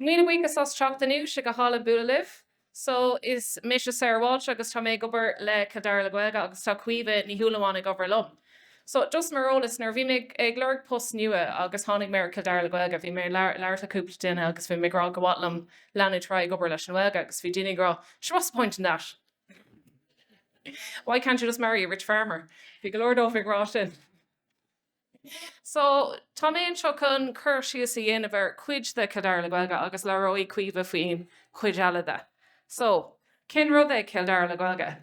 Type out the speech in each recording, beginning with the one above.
Míle buíochas as teacht inniú, sé go hálainn bualadh libh. So, is mise Sarah Walsh agus tá mé ag obair le Cill Dara le Gaeilge agus tá Caoimhe Ní Shúilleabháin ag obair liom. So, just mar eolas, nuair a bhí mé ag lorg post nua agus tháinig mé ar Cill Dara le Gaeilge, bhí mé ag labhairt le cúpla duine agus bhí mé ag rá go mhaith liom leanúint ar aghaidh ag obair leis an nGaeilge agus bhí daoine ag rá sure what's the point in that? Why can't you just marry a rich farmer? Bhí go leor dóibh ag rá sin. So, tá mé anseo chun cur síos a dhéanamh ar cuid de Cill Dara le Gaeilge agus labhróidh Caoimhe faoin chuid eile de. So, cén rud é Cill Dara le Gaeilge?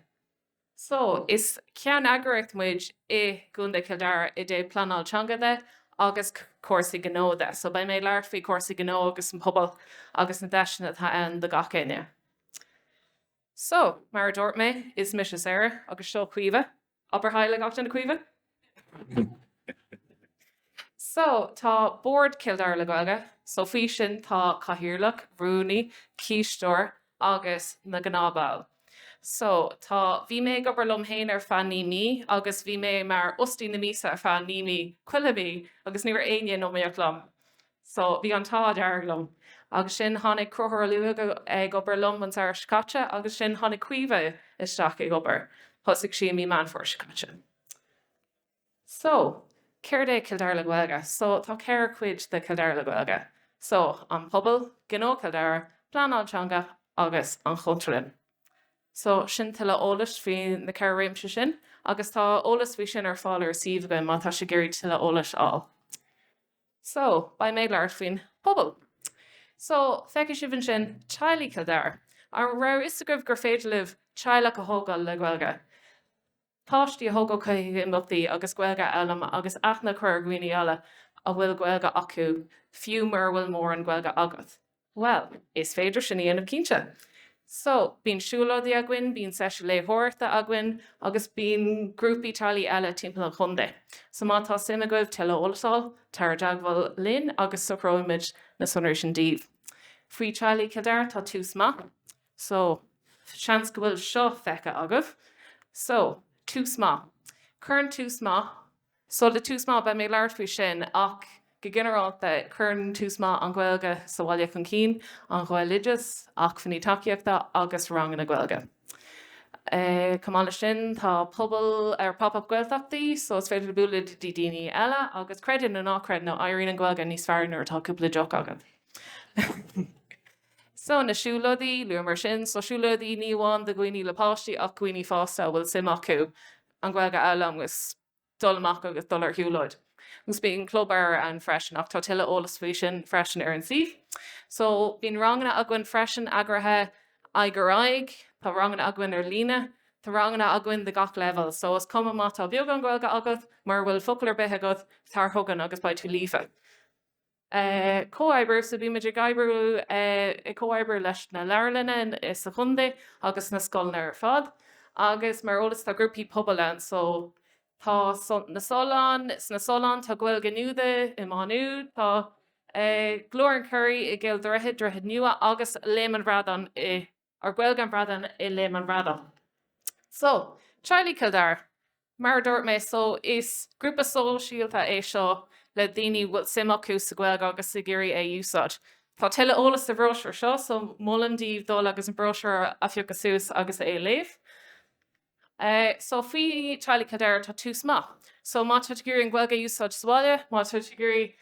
So, is ceanneagraíocht muid i gContae Chill Dara i dtaobh pleanáil teanga de agus cúrsaí gnó de. So, beidh mé ag labhairt faoi chúrsaí gnó agus an pobal agus na deiseanna atá ann do gach éinne. So, mar a dúirt mé, is mise Sarah agus seo Caoimhe. Abair haileo leo a Chaoimhe? So, tá Bord Chill Dara le Gaeilge, so faoi sin tá Cathaoirleach, Rúnaí, Cisteoir agus na gnáthbhaill. So, tá, bhí mé ag obair liom féin ar feadh naoi mí agus bhí mé mar fhostaí na míosa ar feadh naoi mí, chuile mí, agus ní raibh éinne in iomaíocht liom. so bhí an t-ádh dearg liom. Agus sin tháinig Crochúr Ó Luaigh ag obair liom an samhradh seo caite agus sin tháinig Caoimhe isteach ag obair, thosaigh sí i mí Meán Fómhair seo caite. So, céard é Cill Dara le Gaeilge? So, tá ceithre cuid de Cill Dara le Gaeilge. So, an pobal, Gnó Chill Dara, Pleanáil Teanga agus an Chultúrlann. So, sin tuilleadh eolais faoi na ceithre réimse sin agus tá eolas faoi sin ar fáil ar an suíomh againn má tá sibh ag iarraidh tuilleadh eolais a fháil. So, beidh mé ag labhairt faoin bpobal. So, feicfidh sibh ansin teaghlaigh Chill Dara. An raibh a fhios agaibh gur féidir libh teaghlach a thógáil le Gaeilge? Páistí a thógáil chuig imeachtaí agus Gaeilge a fhoghlaim agus aithne a chur ar dhaoine eile a bhfuil Gaeilge acu, fiú mura bhfuil mórán Gaeilge agat. Bhuel, is féidir sin a dhéanamh cinnte. So, bíonn siúlóidí againn, bíonn seisiúin léitheoireachta againn agus bíonn grúpaí teaghlaigh eile timpeall an chontae. So má tá suim agaibh tuilleadh eolas a fháil, tar i dteagmháil linn agus socróimid na sonraí sin daoibh. Faoi Teaghlaigh Chill Dara tá Tús Maith. So, seans go bhfuil seo feicthe agaibh. So, Tús Maith. Cuireann Tús Maith. So le tús maith beidh mé ag labhairt faoi sin ach go ginearálta cuireann tús maith an Ghaeilge sa bhaile chun cinn, an Ghaeloideachas, acmhainní tacaíochta agus ranganna Gaeilge. Chomh maith leis sin tá pobal ar Pop Up Gaeltachtaí so is féidir bualadh le daoine eile agus creid nó ná creid nó éiríonn an Ghaeilge níos fearr nuair atá cúpla deoch agat. So na siúlóidí, luamar sin, so siúlóidí ní amháin do dhaoine le páistí ach do dhaoine fásta a bhfuil suim acu an Ghaeilge a fhoghlaim agus. dul amach agus dul ar shiúlóid agus bíonn club leabhar ann freisin ach tá tuilleadh eolas faoi sin freisin ar an suíomh. So bíonn ranganna againn freisin eagraithe aghaidh ar aghaidh, tá ranganna againn ar líne, tá ranganna againn do gach leibhéal so is cuma má tá beagán Gaeilge agat, mura bhfuil focal ar bith agat, tar chugainn agus beidh tú líofa. Comhoibriú, so bímid ag oibriú, ag comhoibriú leis na leabharlanna sa chontae agus na scoileanna ar fad agus mar eolas tá grúpaí pobail ann, Sult na Sollán, sna Solláin, tá Gaeilge Nuada i Maigh Nuad, tá Glór an Churraigh i gCill Droichid, Droichead Nua agus Léim an Bhradáin i. Ar Gaeilge an Bhradáin i Léim an Bhradáin. So, Teaghlaigh Chill Dara, mar a dúirt mé, so, is grúpa sóisialta é seo le daoine bhfuil suim acu sa Ghaeilge agus ag iarraidh é úsáid. Tá tuilleadh eolas sa bhróisiúr seo, so, molaim daoibh dul agus an bróisiúr a phiocadh suas agus é a léamh. So faoi Teaghlaigh Chill Dara tá tús maith. So má tá tú ag iarraidh an Ghaeilge a úsáid sa bhaile, má tá tú ag iarraidh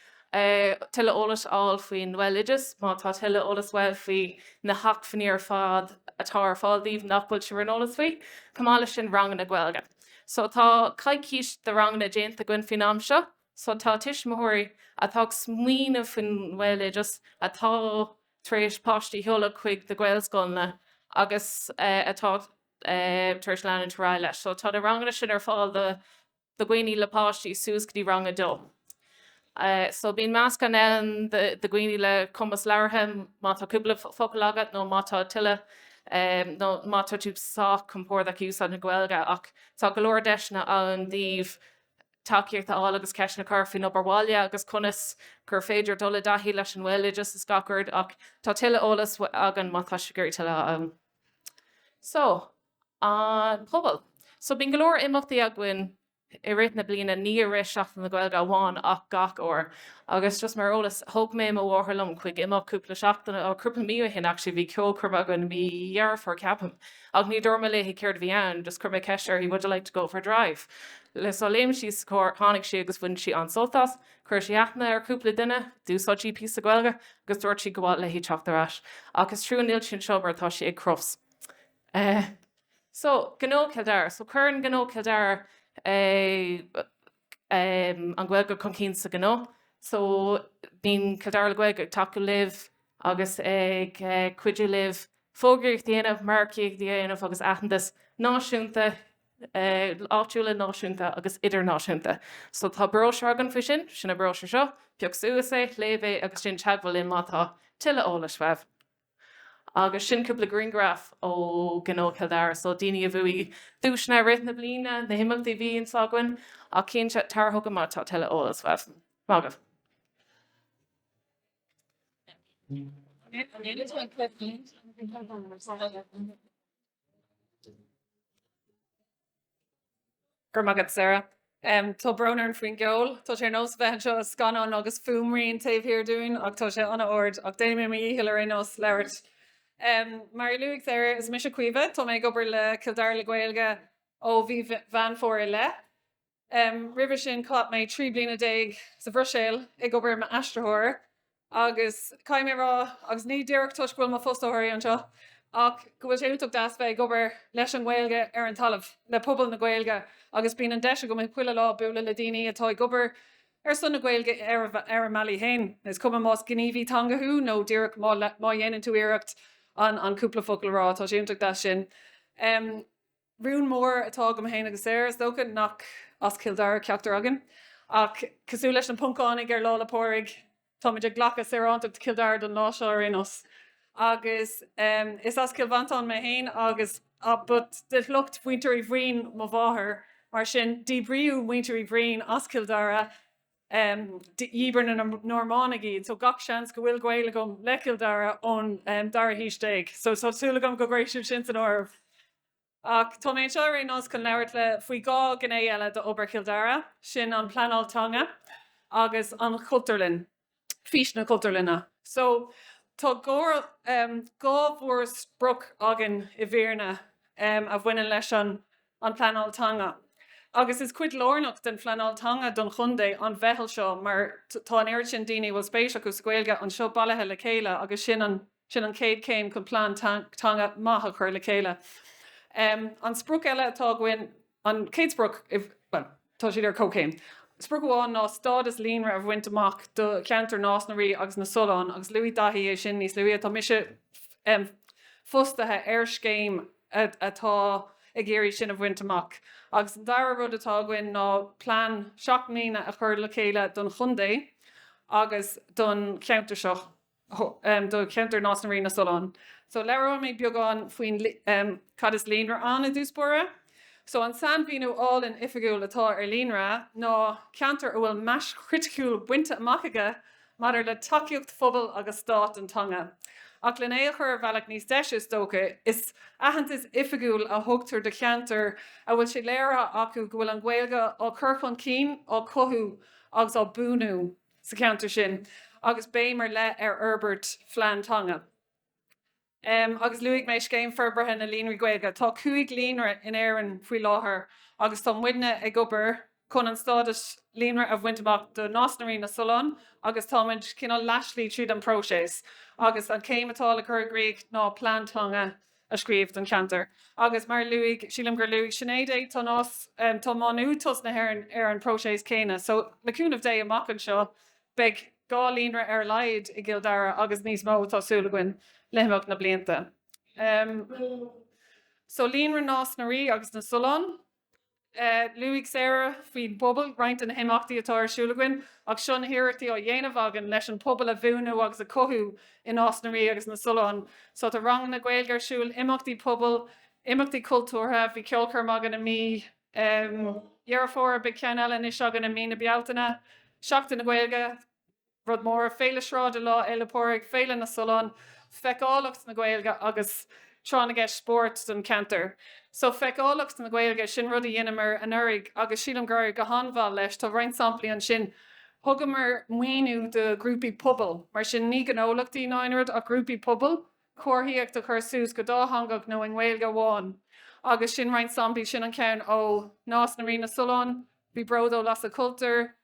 tuilleadh eolais a fháil faoin nGaeloideachas, má tá tuilleadh eolais a fháil faoi na hacmhainní ar fad atá ar fáil daoibh nach bhfuil sibh ar an eolas faoi, chomh maith leis sin ranganna Gaeilge. So tá coicís de ranganna déanta againn faoin am seo. So tá tuismitheoirí atá ag smaoineamh faoin nGaeloideachas, atá tar éis páistí a sheoladh chuig na Gaelscoileanna agus atá. tar éis leanúint ar aghaidh leis. So tá na ranganna sin ar fáil do dhaoine le páistí suas go dtí rang a dó. So bíonn meascán ann do dhaoine le cumas labhartha, má tá cúpla focal agat nó má tá tuilleadh nó má tá tú sách compordach ag úsáid na Gaeilge ach tá go leor deiseanna ann daoibh tacaíocht a fháil agus ceisteanna a chur faoin obair bhaile agus conas gur féidir dul i dtaithí leis an nGaeloideachas is gach rud ach tá tuilleadh eolais againn má tá sibh ag iarraidh tuilleadh a fháil. So, an pobal. So bíonn go leor imeachtaí againn i rith na bliana, ní i rith Seachtain na Gaeilge amháin ach gach uair. Agus just mar eolas, thug mé mo mháthair liom chuig imeacht cúpla seachtain, or cúpla mí ó shin actually, bhí ceolchoirm againn mí Dheireadh Fómhair ceapaim, ach ní dúirt mé léi céard a bhí ann, just chuir mé ceist uirthi would you like to go for a drive? So léim sí sa charr, tháinig sí agus bhain sí an-sult as. Chuir sí aithne ar chúpla duine, d'úsáid sí píosa Gaeilge agus dúirt sí gur mhaith léi teacht ar ais. Ach is trua níl sí anseo mar tá sí ag Crufts. Eh. So, gnó Chill Dara. So, cuireann gnó Chill Dara eh, em, an Ghaeilge chun cinn sa ghnó. So, bíonn Cill Dara le Gaeilge ag tacú libh agus ag eh, cuidiú libh fógraíocht a dhéanamh, margaíocht a dhéanamh agus aitheantas náisiúnta áitiúla, náisiúnta agus idirnáisiúnta. So tá bróisiúr againn faoi sin, sin an bróisiúr seo, pioc suas é, léigh é agus déan teagmháil linn má tá tuilleadh eolais uaibh. Agus sin cúpla grianghraf ó Ghnó Chill Dara. So daoine a bhuaigh duaiseanna i rith na bliana, na himeachtaí a bhíonn againn. Ach cinnte, tar chugainn má tá tuilleadh eolais uaibh. Maith agaibh. Go raibh maith agat, Sarah. Tá brón orm faoin gceol. Tá sé ar nós a bheith anseo i scannán agus fuaimrian taobh thiar dínn ach tá sé an-ard ach déanfaidh mé mo dhícheall ar aon nós labhairt. Mar a luaigh Sarah, is mise Caoimhe. Tá mé ag obair le Cill Dara le Gaeilge ó mhí Mheán Fómhair i leith. Roimhe sin chaith mé trí bliana déag sa Bhruiséil ag obair i m'aistritheoir agus caithfidh mé a rá, agus ní díreach toisc go bhfuil mo fhostóirí anseo, ach go bhfuil sé iontach deas bheith ag obair leis an nGaeilge ar an talamh, le pobal na Gaeilge, agus bíonn an deis agam chuile lá bualadh le daoine atá ag obair ar son na Gaeilge ar a mbealaí féin, is cuma más gníomhaí teanga thú nó díreach má dhéanann tú iarracht an cúpla focal a rá, tá sé iontach deas sin. Rún mór atá agam féin agus Sarah, is dócha, nach as Cill Dara ceachtar againn, ach cosúil leis na Poncánaigh ar Lá 'le Pádraig, táimid ag glacadh saorántacht Chill Dara don lá seo ar aon nós. Agus is as Cill Mhantáin mé féin agus but de shliocht Mhuintir Uí Bhroin mo mháthair, mar sin díbríodh Muintir Uí Bhroin as Cill Dara, Dhíbir na Normánaigh iad so gach seans go bhfuil gaol agam le Cill Dara ón dara haois déag so tá súil agam go gcuirfidh sibh sin san áireamh. Ach tá mé anseo ar aon nós chun labhairt libh faoi dhá ghné eile d'obair Chill Dara, sin an pleanáil teanga agus an Chultúrlann, fís na Cultúrlainne. So tá dhá mhórsprioc againn i bhfírinne a bhaineann leis an. an Pleanáil Teanga agus is cuid lárnach den phleanáil teanga don chontae an mheitheal seo mar tá an oiread sin daoine a bhfuil spéis acu sa Ghaeilge anseo bailithe le chéile agus sin an chéad chéim chun plean teanga maith a chur le chéile. An sprioc eile atá againn, an chéad sprioc. Tá siad ar comhchéim. Sprioc amháin ná stádas líonra a bhaint amach do cheantar Nás na Rí agus na Sollán agus luaigh Daithí é sin níos luaithe, tá mise fostaithe ar scéim atá ag iarraidh sin a bhaint amach. Agus an dara rud atá againn ná plean seacht mbliana a chur le chéile don chontae agus don cheantar seo. do cheantar Nás na Rí, Na Sollán. So labhróidh mé beagán faoin cad is líonra ann i dtús báire. So an sainmhíniú álainn oifigiúil atá ar líonra ná ceantar a bhfuil mais chriticiúil bainte amach aige maidir le tacaíocht phobail agus stáit don teanga. Ach lena chur ar bhealach níos deise is dócha, is aitheantas oifigiúil a thugtar do cheantar a bhfuil sé léirithe acu go bhfuil an Ghaeilge á cur chun cinn, á cothú agus á buanú. sa cheantar sin agus béim ar leith ar fhorbairt phlean teanga. Agus luaigh mé Scéim Forbartha na Líonraí Gaeilge. Tá cúig líonra in Éirinn faoi láthair agus tá muidne ag obair chun an stádas líonra a bhaint amach do Nás na Rí, Na Sollán agus táimid cineál leathslí tríd an bpróiseas agus an chéim atá le cur i gcrích ná plean teanga a a scríobh don cheantar. Agus mar a luaigh, sílim gur luaigh Sinéad é, tá Nás, tá Má Nuad tosnaithe, ar an bpróiseas céanna. So, le cúnamh Dé, amach anseo, beidh dhá líonra ar a laghad i gCill Dara agus níos mó, tá súil againn, le himeacht na blianta. So, Líonra Nás na Rí agus na Sollán. Luaigh Sarah faoin bpobal roinnt de na himeachtaí atá ar siúl againn ach seo na hiarrachtaí á ndéanamh againn leis an pobal a bhunú agus a chothú i Nás na Rí agus na Sollán. So tá ranganna Gaeilge ar siúl, imeachtaí pobail, imeachtaí cultúrtha, bhí ceolchoirm againn i mí Dheireadh Fómhair, beidh ceann eile anois againn i mí na Bealtaine, Seachtain na Gaeilge. Rud mór Féile Sráide Lá Fhéile Pádraig, Féile na Sollán, feiceálacht na Gaeilge agus tráth na gceist spóirt don cheantar. So feiceálacht na Gaeilge, sin rud a dheineamar anuraidh agus sílim gur éirigh go han-mhaith leis. Tá roinnt samplaí ansin. Thugamar maoiniú do ghrúpaí pobail, mar sin ní gnólachtaí ná aon rud ach grúpaí pobail, comharthaíocht a chur suas go dátheangach nó i nGaeilge amháin agus sin roinnt samplaí, sin an ceann ó Nás na Rí na Sollán, bhí Bród ó Lasadh Cultúir,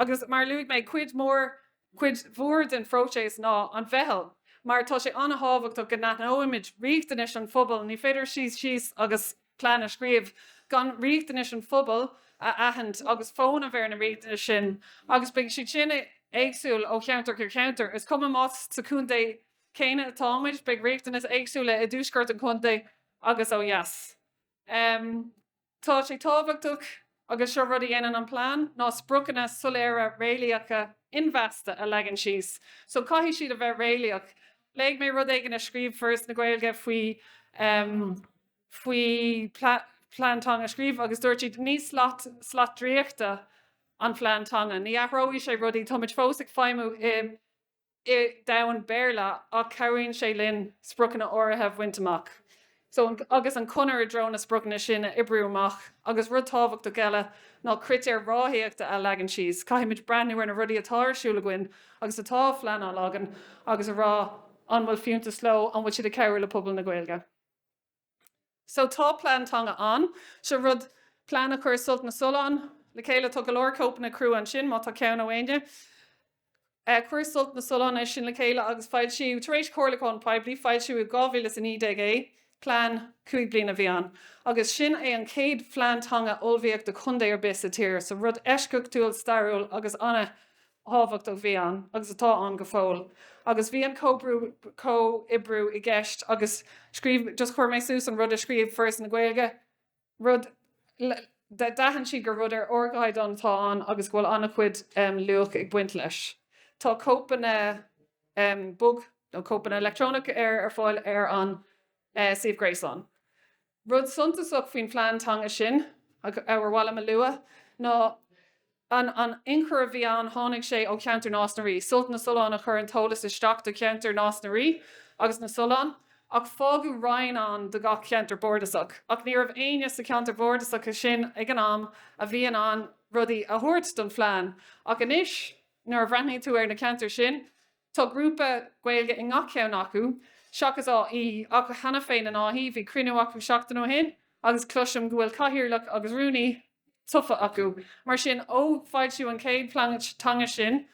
Agus mar a luaigh mé, cuid mór, cuid mhór den phróiseas ná an mheitheal, mar tá sé an-thábhachtach go n-aithneoimid riachtanais an phobail, ní féidir suí síos agus plean a scríobh gan riachtanais an phobail a aithint agus fónamh ar na riachtanais sin agus beidh siad sin éagsúil ó cheantar go ceantar, is cuma más sa chontae céanna atáimid, beidh riachtanais éagsúla i dtuaisceart an chontae agus ó dheas. Tá sé tábhachtach, agus seo rud a dhéanann an plean, ná spriocanna soiléire réalaíocha inmheasta a leagan síos. So caithfidh siad a bheith réalaíoch. Léigh mé rud éigin a scríobh Foras na Gaeilge faoi faoi plean teanga a scríobh agus dúirt siad ní slat slat draíochta an plean teanga, ní athróidh sé rudaí, táimid fós ag feidhmiú i. i domhan Béarla ach cabhraíonn sé linn spriocanna áirithe a bhaint amach so agus an chonair i dtreo na spriocanna sin a oibriú amach agus rud tábhachtach eile ná critéir ráthaíochta a leagan síos. Caithfimid breathnú ar na rudaí atá ar siúl againn agus atá á phleanáil againn agus a rá an bhfuil fiúntas leo, an bhfuil siad ag cabhrú le pobal na Gaeilge. So tá plean teanga ann. Seo rud, plean a chuir Sult na Sollán le chéile. Tá go leor cóipeanna crua ansin, má tá ceann ó éinne. Chuir Sult na Sollán é sin le chéile agus foilsíodh, tar éis comhairliúcháin poiblí, foilsíodh i 2019 é. Plean cúig bliana a bhí ann. Agus sin é an chéad phlean teanga a ullmhaíodh do chontae ar bith sa tír. So rud eisceachtúil, stairiúil agus thábhachtach a bhí ann, agus atá ann go fóill, agus bhí an comhoibriú i gceist agus scríobh, just chuir mé suas an rud a scríobh Foras na Gaeilge, rud, d'aithin siad gur rud ar ardchaighdeán atá ann agus go bhfuil an-chuid luach ag baint leis. Tá cóipeanna bog nó cóipeanna electronic ar ar fáil ar an suíomh gréasáin. Rud suntasach faoin phlean teanga sin, ar mhaith liom a lua, ná an an inchur a bhí ann, tháinig sé ó cheantar Nás na Rí, Sult na Sollán a chuir an t-eolas isteach do cheantar Nás na Rí agus na Sollán, ach fágadh roinn ann do gach ceantar bardasach, ach ní raibh éinne sna ceantair bhardasacha sin ag an am a bhí in ann rudaí a thabhairt don phlean, ach anois nuair a bhreathnaíonn tú ar na ceantair sin, Tá grúpa Gaeilge i ngach ceann acu, seachas Áth Í, ach cheana féin in Áth Í. Bhí cruinniú acu seachtain ó shin agus cloisim go bhfuil cathaoirleach agus rúnaí tofa acu. Mar sin, ó foilsíodh an chéad phlean teanga sin,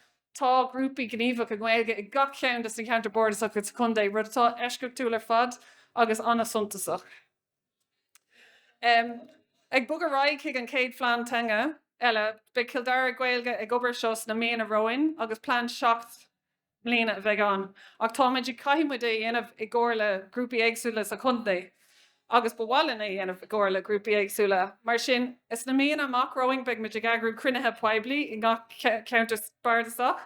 tá grúpaí gníomhach i nGaeilge i gach ceann de sna ceantair bardasacha sa chontae, rud atá eisceachtúil ar fad agus an-suntasach. Ag bogadh ar aghaidh chuig an chéad phlean teanga eile, beidh Cill Dara le Gaeilge ag obair air seo sna míonna romhainn agus plean seacht mbliana a bheidh ann ach tá muid ag caithfidh muid é a dhéanamh i gcomhar le grúpaí éagsúla sa chontae agus ba mhaith linn é a dhéanamh i gcomhar le grúpaí éagsúla. Mar sin, sna míonna amach romhainn beidh muid ag eagrú cruinnithe poiblí i ngach ceantar bardasach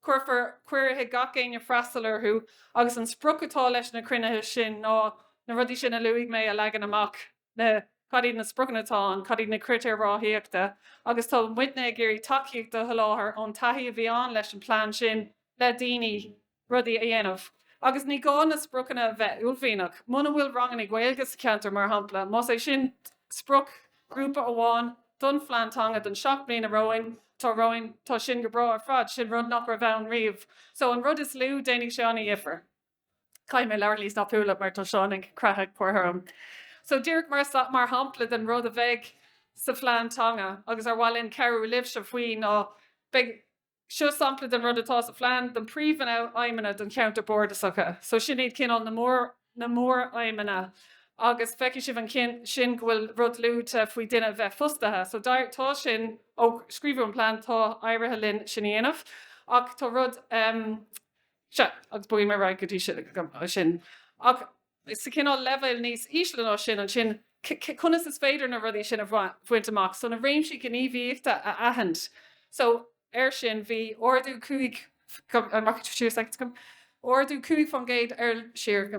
Cuirfear cuireadh gach éinne freastal orthu agus an sprioc atá leis na cruinnithe sin ná na rudaí sin a luaigh mé a leagan amach, na, cad iad na spriocanna atá ann, cad iad na critéir ráthaíochta agus tá muidne ag iarraidh tacaíocht a sholáthar ón taithí a bhí ann leis an bplean sin le daoine rudaí a dhéanamh. Agus ní gá na spriocanna a bheith uaillmhianach, muna bhfuil ranganna Gaeilge sa cheantar mar shampla, más é sin sprioc, grúpa amháin don phlean teanga don seacht mbliana romhainn atá romhainn, tá sin go breá ar fad, sin rud nach raibh ann riamh. So an rud is lú, déanfaidh sé an-difear. Caithfidh mé labhairt níos tapúla mar tá Seán ag croitheadh páipéir orm. So díreach mar shampla den rud a bheidh sa phlean teanga agus ar mhaith linn cabhrú libhse faoi ná beidh, Seo sampla de rud atá sa phlean de na príomhaidhmeanna don cheantar bardasacha. So sin iad cineál na mór na móraidhmeanna agus feicfidh sibh in san sin go bhfuil rud luaite faoi duine a bheith fostaithe. So d'éir tá sin ó scríobhadh an plean tá éirithe linn sin a dhéanamh ach tá rud em seo agus bogfaidh mé ar aghaidh go dtí sin ach. sa chineál leibhéal níos ísle ná sin, ansin conas is féidir na rudaí sin a bhaint amach? So na réimsí gníomhaíochta a aithint. So ar sin bhí ardú cúig ardú cúig faoin gcéad ar siar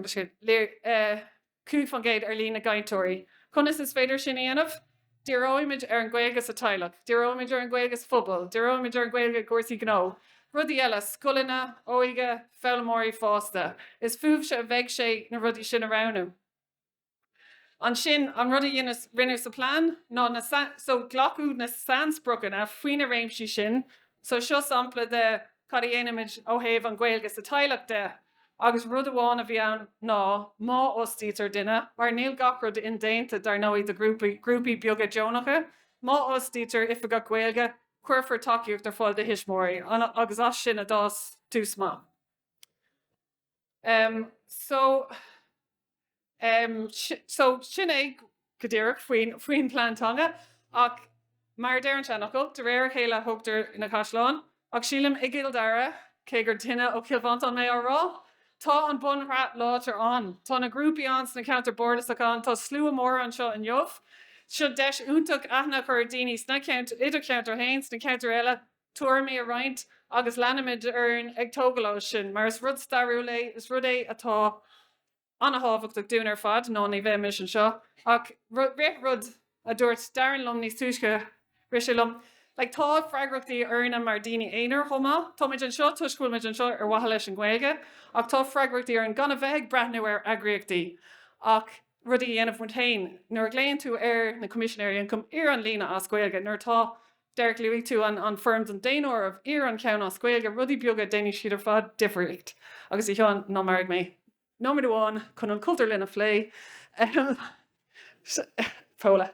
cúig faoin gcéad ar líon na gcainteoirí. Conas is féidir sin a dhéanamh? Díreoimid ar an Ghaeilge sa teaghlach, díreoimid ar an Ghaeilge sa phobal, díreoimid ar an Ghaeilge i gcúrsaí gnó, rudaí eile, scoileanna, óige, foghlaimeoirí fásta. Is fúibhse a bheidh sé na rudaí sin a roghnú. Ansin, an rud a rinneadh sa plean ná na so, glacadh na sainspriocanna faoi na réimsí sin so. Seo sampla de cad a dhéanaimid ó thaobh an Ghaeilge sa teaghlach de. Agus rud amháin a bhí ann ná, má fhostaítear duine, mar níl gach rud indéanta dar ndóigh do ghrúpaí, grúpaí beaga deonacha, má fhostaítear Oifigeach Gaeilge, cuirfear tacaíocht ar fáil do thuismitheoirí agus as sin a d'fhás Tús Maith. So. So, sin é go díreach faoin phlean teanga. Ach mar a deir an seanfhocal, de réir a chéile a thógtar na caisleáin. Ach sílim i gCill Dara, cé gur duine ó Chill Mhantáin mé á rá, tá an bunshraith láidir ann. Tá na grúpaí ann sna ceantair bardasacha, tá slua mór anseo inniu. Seo deis iontach aithne a chur ar dhaoine sna ceantair, idir cheantar 1, sna ceantair eile. tuairimí a roinnt agus leanfaimid orainn ag tógail ó sin mar is rud stairiúil é, is rud é atá an-thábhachtach dúinn ar fad nó ní bheimis anseo ach rith rud a dúirt Darren liom níos túisce, rith sé liom like tá freagrachtaí orainne mar daoine aonair chomh maith, táimid anseo toisc go bhfuil muid anseo ar mhaithe leis an Ghaeilge ach tá freagrachtaí orainn gan a bheith ag breathnú ar eagraíochtaí ach rudaí a dhéanamh muid féin. Nuair a ghlaonn tú ar na Coimisinéirí Ioncaim, iarr an líne as Gaeilge nuair atá Derek, Luaigh tú an foirm den daonáireamh, iarr an ceann as Gaeilge, rudaí beaga, déanfaidh siad ar fad difríocht. Agus a Sheáin, ná maraigh mé nóiméad amháin chun an chultúrlann a phlé. Paula,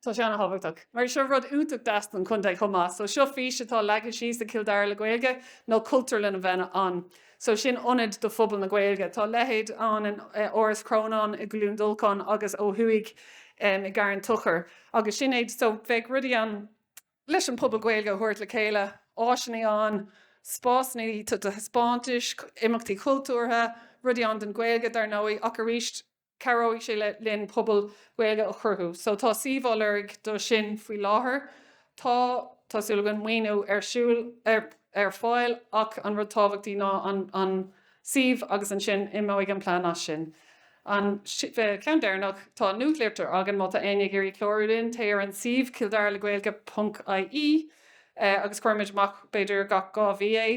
Tá sé an-thábhachtach, mar seo rud iontach deas don chontae chomh maith. So seo fís atá leagtha síos ag Cill Dara le Gaeilge, ná cultúrlann a bheith ann. so sin ionad do phobal na Gaeilge. Tá a leithéid ann in Áras Chrónáin i gCluain Dolcáin agus ó thuaidh i gCarn Tochair agus sin iad so bheadh rudaí ann leis an pobal Gaeilge a thabhairt le chéile, áiseanna ann, spásanna do thaispeántais, imeachtaí cultúrtha, rudaí ann don Ghaeilge dar ndóigh ach arís, cabhróidh sé linn pobal Gaeilge a chruthú. So tá suíomh á lorg do sin faoi láthair. Tá, tá súil againn, maoiniú ar siúl, ar, ar fáil ach an rud is tábhachtaí ná an, an suíomh agus ansin imeoidh an plean as sin. An, ceann deireanach, tá nuachtlitir againn má tá éinne ag iarraidh clárú linn, téigh ar an suíomh cilldaralegaeilge ponc ie agus cuirimid amach b'fhéidir gach dhá mhí é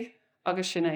agus sin é.